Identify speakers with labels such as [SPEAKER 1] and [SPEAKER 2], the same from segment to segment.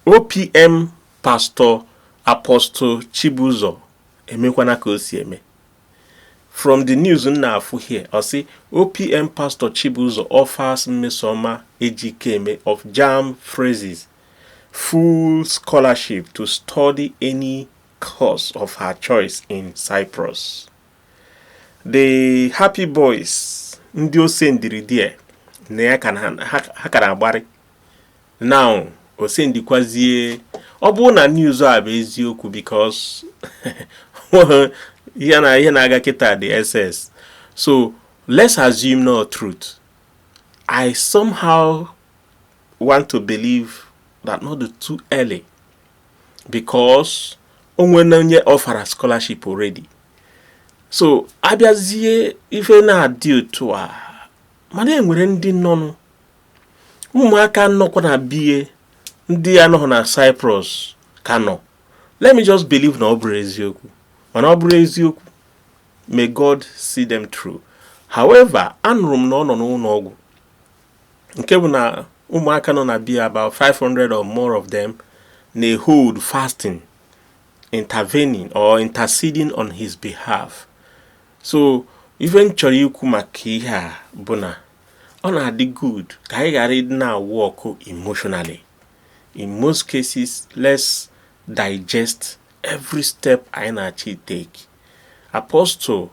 [SPEAKER 1] OPM Pastor Apostle Chibuzor emekwana ka o si eme from the news m na-afụ here ọ sị OPM Pastor Chibuzor offers Mmesoma Ejikeme of JAMB phrases full scholarship to study any course of her choice in Cyprus. The Happy Boys ndị o sendiri there na ya ha ka na-agbarị now o sendikwazie ọ bụrụ na news a bụ eziokwu because ihe na-aga kịta DSS so let's assume na ọ truth i somehow want to believe that na ọ dị too early because o nwena onye ọfara scholarship already so a bịazie ife na-adị otu a mana e nwere ndị nọnụ ụmụaka nọkwa na be ya ndị anọghị na Cyprus ka nọ let me just believe na ọ bụrọ eziokwu mana ọ bụrụ eziokwu may God see them through however anụrụ m na ọ nọ n'ụlọ ọgwụ nke bụ na ụmụaka nọ na be ya about 500 or more of them na-ehold fasting intervening or interceding on his behalf so ife m chọrọ ikwu maka ihe a bụ na ọ na-adị good ka anyị ghara ịdị na-awork emotionally in most cases let's digest every step anyị na-achọ itake Apostle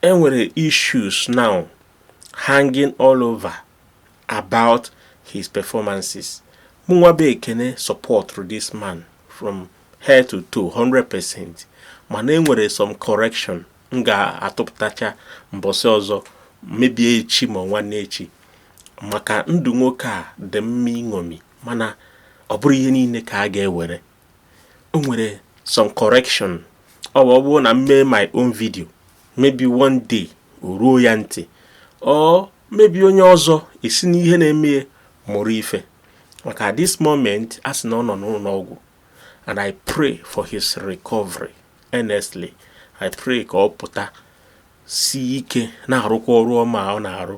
[SPEAKER 1] e nwere issues now hanging all over about his performances mụnwa bụ Ekene supportrụ this man from head to toe 100% mana e nwere some correction m ga-atụpụtacha mbọsị ọzọ maybe echi ma nwanne echi maka ndụ nwoke a dị mma iṅomi mana ọ bụrọ ihe niile ka a ga-ewere o nwere some correction ọ bụ ọ bụrụ na m mee my own video maybe one day o ruo ya ntị or maybe onye ọzọ esi n'ihe na-eme mụrụ ife maka this moment a sị na ọ nọ n'ụlọ ọgwụ and I pray for his recovery Honestly, I pray ka ọ pụta si ike na-arụkwa ọrụ ọma ọ na-arụ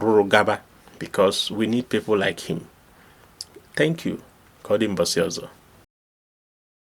[SPEAKER 1] rụrụ gaba because we need people like him. Thank you. Ka ọ dị mbọsị ọzọ.